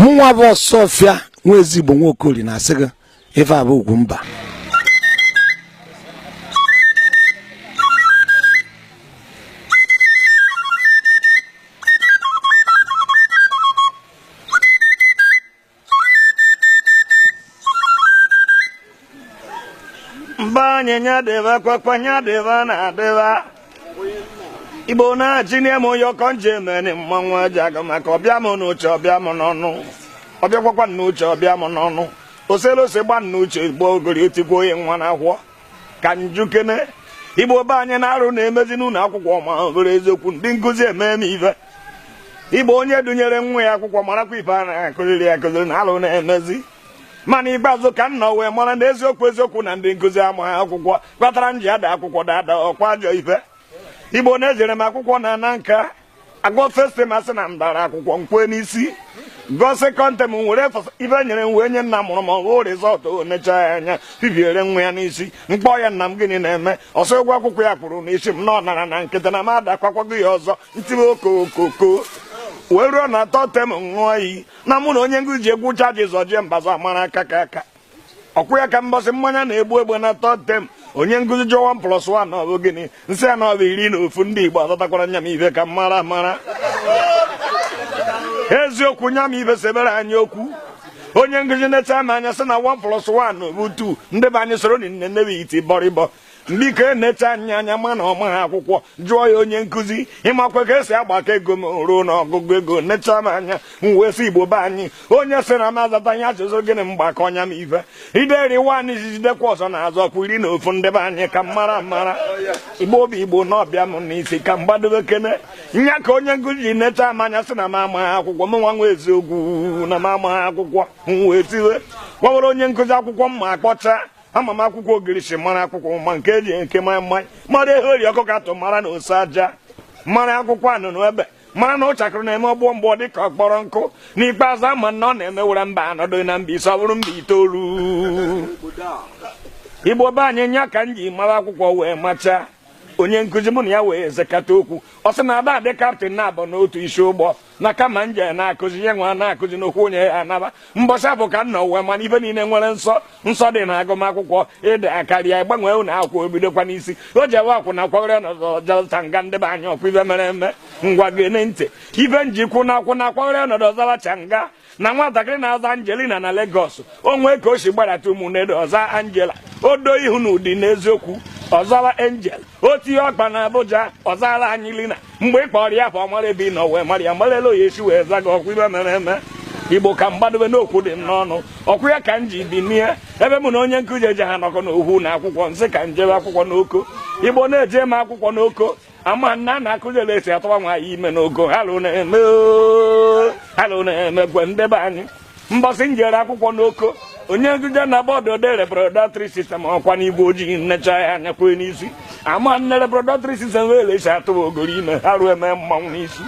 mụnwa bụ osuọfịa nwa ezigbo nwa okorie na-asị gị ife bụ ugwu mba mba anyị nya dịba kwakwa nya dịba na adịba igbo na-achị nye m onye ọkọ nje emeni mmanwụ aja aga maka ọ bịa m n'uche ọ bịa m n'ọnụ ọ bịakwakwa n'uche ọ bịa m n'ọnụ oselose gba n'uche igbo ogori otikwa onye nwa na ahụọ ka m jụkene igbo be anyị na alụ na-emezi n'ụlọ akwụkwọ ma ọ bụrụ eziokwu ndị nkụzi emee m ife igbo onye dunyere nwa ya akwụkwọ marakwa ife a na-akụziri akụziri na alụ na-emezi ma n'ikpeazụ ka unu wee mara na eziokwu eziokwu na ndị nkụzi amaghị akwụkwọ kpatara m ji ada akwụkwọ dada ọkwa ajọ ife igbo na-ejere m akwụkwọ na ana nka agụọ festi ma sị na m dara akwụkwọ m kwe n'isi gụọ sekọndị m were fọs- ife e nyere m wee nye nna mụrụ m ọ wụ rizọt o necha ya anya bibiere nwa ya n'isi m kpọọ ya nna m gịnị na-eme ọ sị ụgwọ akwụkwọ ya kwuru n'isi m na ọ nara na nkịtị na m adakwakwago ya ọzọ m tiwe okokoko wee ruo na tọd tem ṅụọ iyi na mụ na onye nkụzi ji egwu ụcha ji zọjie mbaza amara aka ka aka ọkwụ ya ka mbọsị mmanya na-egbu egbe na tọd tem onye nkụzi jụọ 1 plus 1 na ọ bụ gịnị m sị ya na ọ bụ iri na ofu ndị igbo azatakwara nya bụ ife ka m mara mara eziokwu nya bụ ife sebere anyị okwu onye nkụzi necha m anya sị na 1 plus 1 na ọ bụ 2 ndị be anyị soronụ m newe iti bọrịbọ biko enecha ya anya ma na ọ maha akwụkwọ jụọ ya onye nkụzi ị makwa ka e si agbakọ ego m ruo n'ọgụgụ ego necha m anya m wee sị igbo be anyị onye sị na m azataghị ajụjụ gịnị m gbakọọ nya bụ ife ideri nwaanyị ji jidekwa ọzọ na azọ kwa iri na ofu ndị be anyị ka m mara mara igbo obi igbo na ọ bịa m n'isi ka m gbadobe kene nya ka onye nkụzi ji necha m anya sị na m amaghị akwụkwọ mụnwa nwa eziokwu na m amaghị akwụkwọ m wee tiwe gwawara onye nkụzi akwụkwọ m ma akpọcha ama m akwụkwọ ogirisi mara akwụkwọ ụma nke e ji eke maị maị mara ehe ori ọkụ ka atụ mara na ose aja mara akwụkwọ anụnụ ebe mara na ụchakịrị na-eme ọgbọ mgbọ dị ka ọ kpọrọ nkụ n'ikpeazụ ama m na m were mba anọ dụọ na mba ise ọ bụrụ mba itoolu igbo be anyị nya ka m ji mara akwụkwọ wee machaa onye nkụzi mụ na ya wee sekata okwu ọ sị na ada adị kaptịn naabọ n'otu isi ụgbọ na kama m jee na-akụzi ihe nwa na-akụzi n'okwu onye ya anaba mbọsị a bụ ka unu wee mara na ife niile nwere nsọ nsọ dị na agụmakwụkwọ ị dakarịa ị gbanwee ụlọ akwụkwọ o bidokwa n'isi o ji ewe akwụ na kwagoro nọzọ jọta nga ndị be anyị ọkwa ife mere eme ngwa geenụ ntị ife m ji kwuo na akwụ na kwagoro nọdụ ọzalacha nga na nwatakịrị na-aza Angelina na Lagos o nwee ka o si gbadata Ụmụnede ọ zaa Angela o doo ihu n'Udi n'eziokwu ọ zara Angel o tinye ọkpa na Abuja ọ zara Angelina mgbe ị kpọrọ ya afa ọ mara ebe ị nọ wee mara ya mara ele ọ ya-esi wee za gị ọ kwa ife mere eme igbo ka m gbadobe n'okwu dị m n'ọnụ ọ kwa ya ka m ji bịa n'ihe ebe mụ na onye nkụzi eje ha nọkọ n'okwu na akwụkwọ m sị ka m jebe akwụkwọ n'Oko igbo na-eje m akwụkwọ n'Oko ama m na a na-akụzi ele e si atụwa nwaanyị ime n'Oko alụ na-eme oo, alụ na-eme gwe ndị be anyị mbọsị m jere akwụkwọ n'Oko onye nkụzi jee na bọọdụ o dee reproductory system ọ kwa n'igwe ojii m nechaa ya anya kwee n'isi ama m na reproductory system wụ ele e si atụwa ogori ime arụ eme mmanwụ n'isi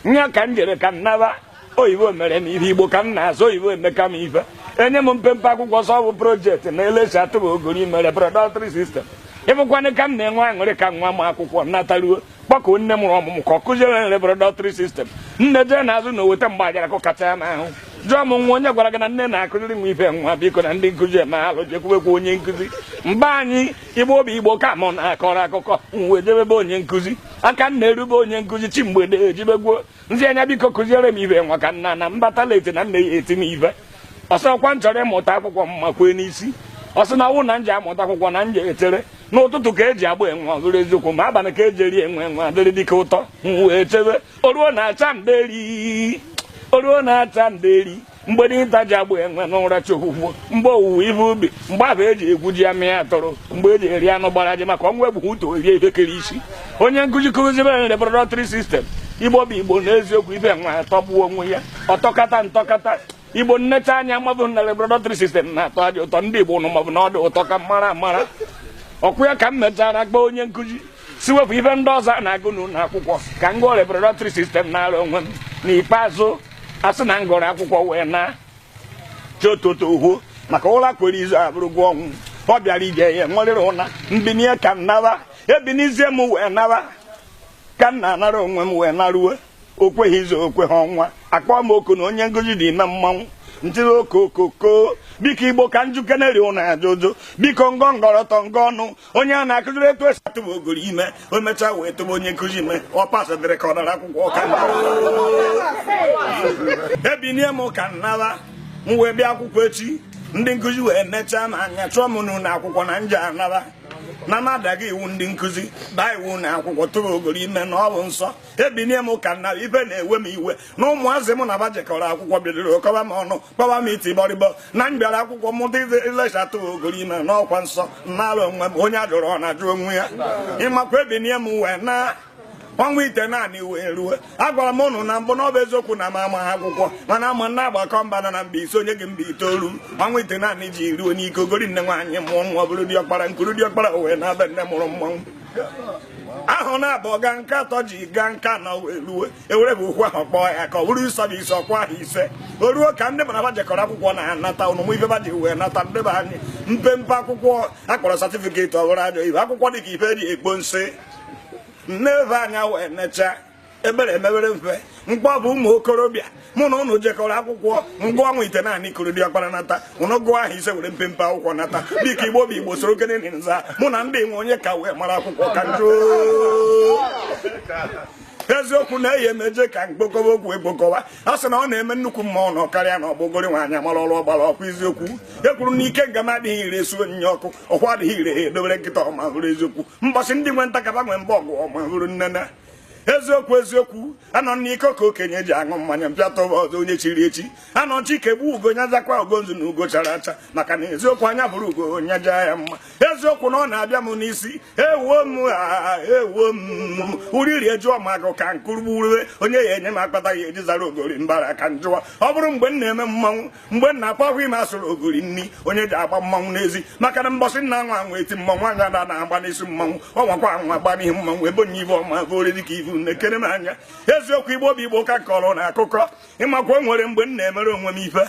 nya ka m jere ka m naba oyibo mere m ihe igbo ka m na-asụ oyibo emeka m ife enye m mpempe akwụkwọ sị ọ bụ project na ele e si atụba ogori ime reproductory system ị fụkwanụ ka m na-enwe aṅụrị ka nwa m akwụkwọ nataruo kpọkụ nne mụrụ ọmụmụ ka ọ kụziere m reproductory system nne jee n'azụ ụnọ weta mgbe ajara kụkachaa ya n'ahụ jụọ m nwa onye gwara gị na nne na-akụziri nwa ife nwa biko na ndị nkụzi eme alụ jekwubekwa onye nkụzi ndị be anyị igbo bụ igbo ka mụ na-akọrọ akụkọ m wee jebe be onye nkụzi ka m na-eru be onye nkụzi chi mgbede ejibegwuo nzi anya biko kụziere m ife nwa ka m naa na m bata late na nne ya-eti m ihe ọ sị ọ kwa m chọrọ ịmụta akwụkwọ m ma kwee n'isi ọ sị na ọ wụ na m je-amụta akwụkwọ na m je-etere n'ụtụtụ ka eji agba enwe ọ bụrụ eziokwu ma abalị ka eji eri enwe enwe adịrị dike ụtọ m wee chebe o ruo na acha mderi o ruo na acha mderi mgbe dinta ji egbu enwe n'ụra chogwugwo mgbe owuwe ihe ubi mgbe ahụ eji egwu ji amị ya tụrụ mgbe eji eri anụ gbara ajị maka ọnwụ egbughị utu o rie ihe kere isi onye nkụzi kụzibe anyị reproductory system igbo bụ igbo n'eziokwu ife nwa atọgbuo onwe ya ọ tọkata m tọkata igbo m neta anya mabụ na reproductory system na-atọ aja ụtọ ndị igbo nụ mabụ na ọ dị ụtọ ka mara amara ọ kwa ya ka m mechara gwa onye nkụzi sị wepụ ife ndị ọzọ a na-agụ n'ụlọ akwụkwọ ka m gụọ reproductory system nara onwe m n'ikpeazụ a sị na m gụrụ akwụkwọ wee naa chi ụtụtụ efo maka ụra kwere izu abụrụgwo ọnwụ ọ bịara ije ya-enwerịrị ụna m binie ka m naba ebinizie m wee naba ka m na-anara onwe m wee naruo o kweghị izu o kweghị ọnwa a kpọọ m oku na onye nkụzi dị ime mmanwụ m tie okokoko biko igbo ka m jụkenerị ụnụ ajụjụ biko ngọ ngọrọtọ ngọ ọnụ onye a na-akụziri etu esi atụba ogori ime o mechaa wee tụba onye nkụzi ime ọ pasadịrị ka ọ dara akwụkwọ ọka ebinie m ka m nara m wee bịa akwụkwọ echi ndị nkụzi wee nechaa m anya chụọ m n'ụlọ akwụkwọ na m je-anara na m adaghị iwu ndị nkụzi maa iwu nwa akwụkwọ tụrụ ogori ime na ọ bụ nsọ ebinie m ụka na ibe na-ewe m iwe na ụmụazị m na ba jekọrọ akwụkwọ bidoro kọba m ọnụ kpọwa m iti bọrịbọ na m bịara akwụkwọ mụta ilechata ogori ime n'ọkwa nsọ n'ala onwe m onye ajụrụ ọ na-ajụ onwe ya ịmakwa ebinie m wee na ọnwa itenaanị wee ruo agwara m ụnụ na mbụ na ọ bụ eziokwu na m ama ha akwụkwọ mana ama na agbakọ mba anọ na mba ise o nye gị mba itoolu ọnwa itenaanị ji ruo n'ike ogori nne nwaanyị mụọ nwa ọ bụrụ diọkpara nkuru diọkpara wee na-abịa nne mụrụ mmanwụ ahụ na-abụ ga nke atọ ji ga nke anọ wee ruo ewere bụ okwu ahụ kpọọ ya ka ọ bụrụ ịsọ bụ ise ọkwa ahọ ise o ruo ka ndị mụ na ba jekọrọ akwụkwọ na-anata ụnụ ma ife ba ji wee nata ndị be anyị mpempe akwụkwọ akpọrọ satifiketi ọ bụrụ ajọ ibe akwụkwọ dị ka ife eji ekpo nsị nne ebe anya wee necha ebere emebere mfe mgbe ọ bụ ụmụ okorobịa mụ na ụnụ jekọrọ akwụkwọ mgbe ọnwa itenaanị kụrụ diọkpara nata ụnụ gụọ ahọ ise were mpempe akwụkwọ nata dịka igbo bụ igbo soro kenene nza mụ na ndị nwe onye ka wee mara akwụkwọ ka m jụ eziokwu na eyi emeje ka mkpokọba okwu ekpokọwa a sị na ọ na-eme nnukwu mma ọ nọ karịa na ọgbogori nwaanyị amara ọrụ ọgbara ọkwa eziokwu e kwuru na ike nga m adịghị ire esu onyinye ọkụ ọkwa adịghị ire edobere nkịta ọma hụrụ eziokwu mbọsị ndị nwe ntakaba nwe mba ọgụ ọma hụrụ nnene eziokwu eziokwu anọ n'iko ka okenye ji aṅụ mmanya mpịa tọba ọzọ onye chiri echi anọ chike gbu ugo nya zakwa ugo nzu na ugo chara acha maka na eziokwu anya hụrụ ugo nya jaa ya mma eziokwu na ọ na-abịa m n'isi ewuo m ewuo m uriri ejụọ m agụ ka nkurugbu onye ya enye m akpata ya eji zara ogori mbara ka m jụwa ọ bụrụ mgbe m na-eme mmanwụ mgbe nna akpọghị m asụrụ ogori nri onye ji agba mmanwụ n'ezi maka na mbọsị nna nwa anwụ eti mmanwụ anya na na-agba n'isi mmanwụ ọnwakwa anwụ agba n'isi mmanwụ ebe onye ibe ọma bụ ori dịka ivu na-ekere m anya eziokwu igbo bụ igbo ka kọrọ na akụkọ ịmakwa o nwere mgbe m na-emere onwe m ife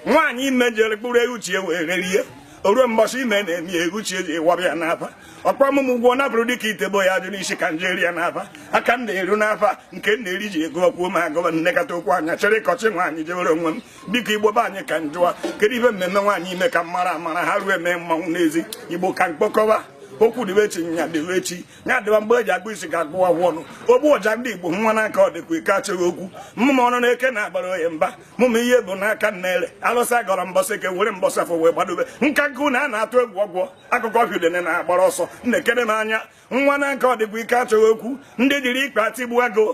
nwaanyị ime jere kpụrụ ewu chi ewere rie o ruo mbọsị ime na-eme ewu chi eji ịwabịa n'aba ọkwa m ụgwọ nabụrụ dịka itebo ya ajụ n'isi ka m je eri ya n'afa aka m na-eru n'afa nke m na-eri ji ego ọkwuo m agụba nnekọta okwu anya chere ịkọchị nwaanyị jewere onwe m biko igbo be anyị ka m jụwa kedu ife m mere nwaanyị ime ka m mara amara ha ruo eme mmanwụ n'ezi igbo ka m kpokọwa okwu dịbe echi nya dịbe echi nya dịba mgbe eji agụ isi ga-agụwa agwụ ọnụ ogbu ọja ndị igbo nwa n'aka ọ dịkwa ike achọghị okwu mmụm ọnụ n'eke na-agbara oye mba mụm ihe bụ n'aka nna ele alụsị agọrọ mbọsị eke were mbọsị afọ wee gbadobe nka nkụ na a na-atụ egwu ọgwọ akụkọ ọbịudene na-agbara ọsọ na-ekere n'anya nwa na nke ọdịkwa ike achọghị okwu ndị jiri ikpe atigbu agụ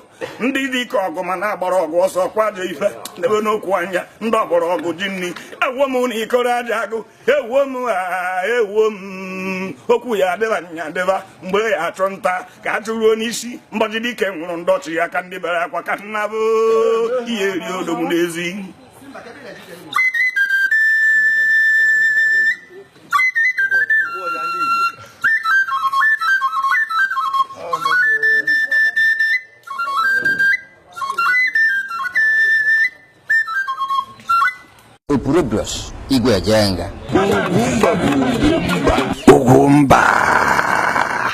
ndị dị ike ọgụ ma na-agbara ọgụ ọsọ kwado ife debe n'okwu anya ndị ọgbọrọ ọgụ ji nri ewuo m na ikoro aja agụ ewuo m ewuo m okwu ya adịba nya adịba mgbe ya achụ nta ka a chụruo n'isi mbọchị dike nwụrụ ndị ọchị ya ka ndị bere akwa ka nna bụ ihe eri odogwu n'ezi Upurudos Igwe Jenga Ugwumba